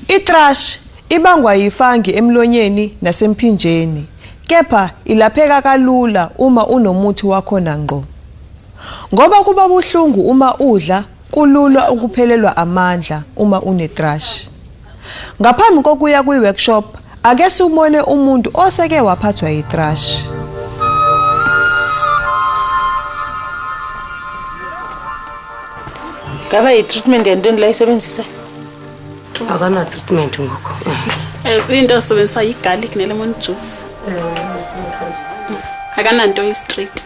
Itrash ibangwa yifangi emlonyeni nasemphinjeni kepha ilapheka kalula uma unomuthi wakhona ngqo. Ngoba kuba buhlungu uma udla kulula ukuphelelwa amandla uma unetrash. Ngaphambi kokuya kwi-workshop, ake siwubone umuntu oseke waphathwa yi-thrush. Ngaba yi-treatment yantoni la isebenzisa? Akana-treatment ngoku. As into asebenzisa yi-garlic ne-lemon juice. Akananto yi-straight.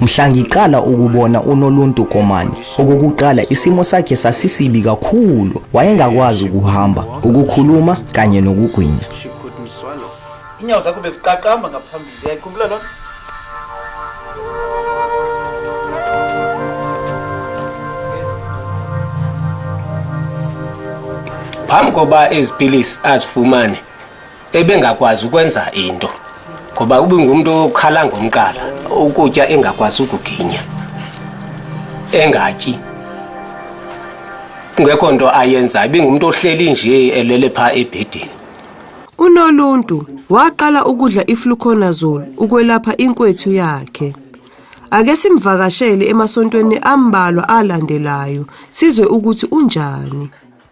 Mhla ngiqala ukubona uNoluntu Komane, okokuqala isimo sakhe sasisibi kakhulu. Wayengakwazi ukuhamba, ukukhuluma kanye nokugwinya. Inyawo zakho beziqaqamba ngaphambili. Uyayikhumbula lona? Phambi koba izipilisi azifumane ebengakwazi ukwenza into ngoba ubingumuntu okhala ngomqala ukutya engakwazi ukuginya engatyi kungekho nto ayenzayo ibingumuntu ohleli nje elele pha ebhedini unoluntu waqala ukudla ifluconazole ukwelapha inkwethu yakhe ake simvakashele emasontweni ambalwa alandelayo sizwe ukuthi unjani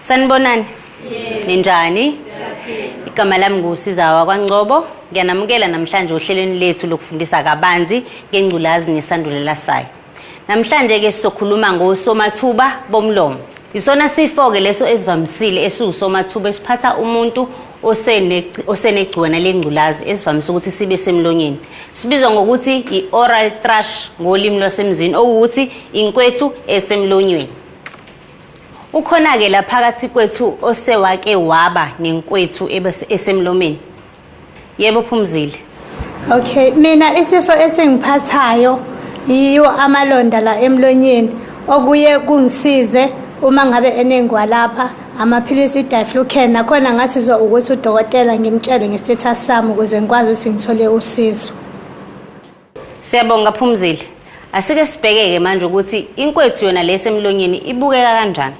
Sanibonani. Ninjani? Igama lami nguSizawa kwaNgcobo. Ngiyanamukela namhlanje ohlelweni lethu lokufundisa kabanzi ngengculazi nesandulela sayo. Namhlanje ke sizokhuluma ngosomathuba bomlomo. Isona sifo ke leso esivamisile esiwusomathuba esiphatha umuntu osenegciwane lengculazi esivamise ukuthi sibe semlonyeni sibizwa ngokuthi i-oral thrush ngolimi lwasemzini okuwukuthi inkwethu esemlonyweni ukhona-ke la phakathi kwethu osewake waba nenkwethu esemlomeni yebo phumzile Okay, mina isifo esingiphathayo yiwo amalonda la emlonyeni okuye kungisize uma ngabe enengwa lapha amaphilisi i-diflucan nakhona ngasizwa ukuthi udokotela ngimtshele nge-status sami ukuze ngikwazi ukuthi ngithole usizo siyabonga phumzile asike sibhekeke manje ukuthi inkwethu yona lesemlonyeni ibukeka kanjani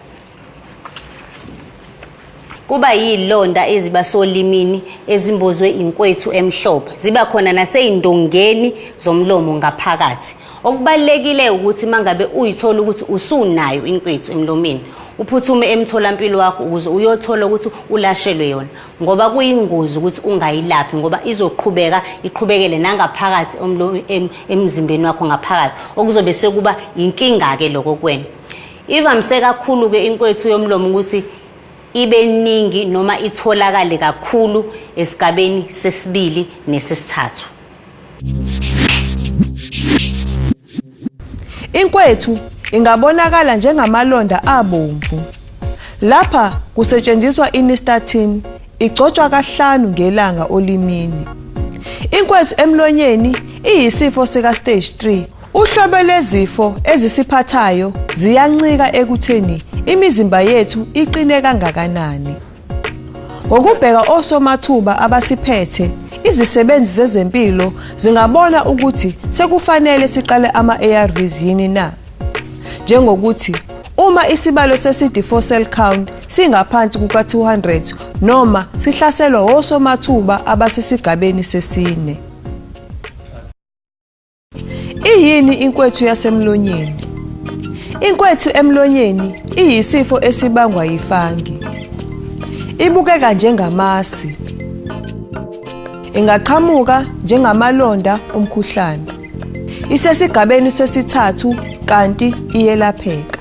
kuba yilonda eziba solimini ezimbozwe inkwethu emhlophe ziba khona naseyindongeni zomlomo ngaphakathi okubalekile ukuthi mangabe uyithola ukuthi usunayo inkwethu emlomeni uphuthume emtholampilo wakho ukuze uyothola ukuthi ulashelwe yona ngoba kuyingozi ukuthi ungayilaphi ngoba izoqhubeka iqhubekele nangaphakathi emzimbeni wakho ngaphakathi okuzobe sekuba inkinga ke lokho kwena Ivamise kakhulu ke inkwethu yomlomo ukuthi ibe ningi noma itholakale kakhulu esigabeni sesibili nesesithathu. Inkwethu ingabonakala njengamalonda abomvu. Lapha kusetshenziswa inistatin igcotshwa kahlanu ngelanga olimini. Inkwethu emlonyeni iyisifo sika stage 3 Uhlobo lwezifo ezisiphathayo ziyancika ekutheni imizimba yethu iqine kangakanani. Ngokubheka osomathuba abasiphethe, izisebenzi zezempilo zingabona ukuthi sekufanele siqale ama-ARVs yini na. Njengokuthi uma isibalo se-CD4 cell count singaphansi kuka-200 noma sihlaselwa osomathuba abasisigabeni sesine. Iyini inkwethu yasemlonyeni? Inkwethu emlonyeni iyisifo esibangwa yifangi. Ibukeka njengamasi. Ingaqhamuka njengamalonda omkhuhlane. Isesigabeni sesithathu kanti iyelapheka.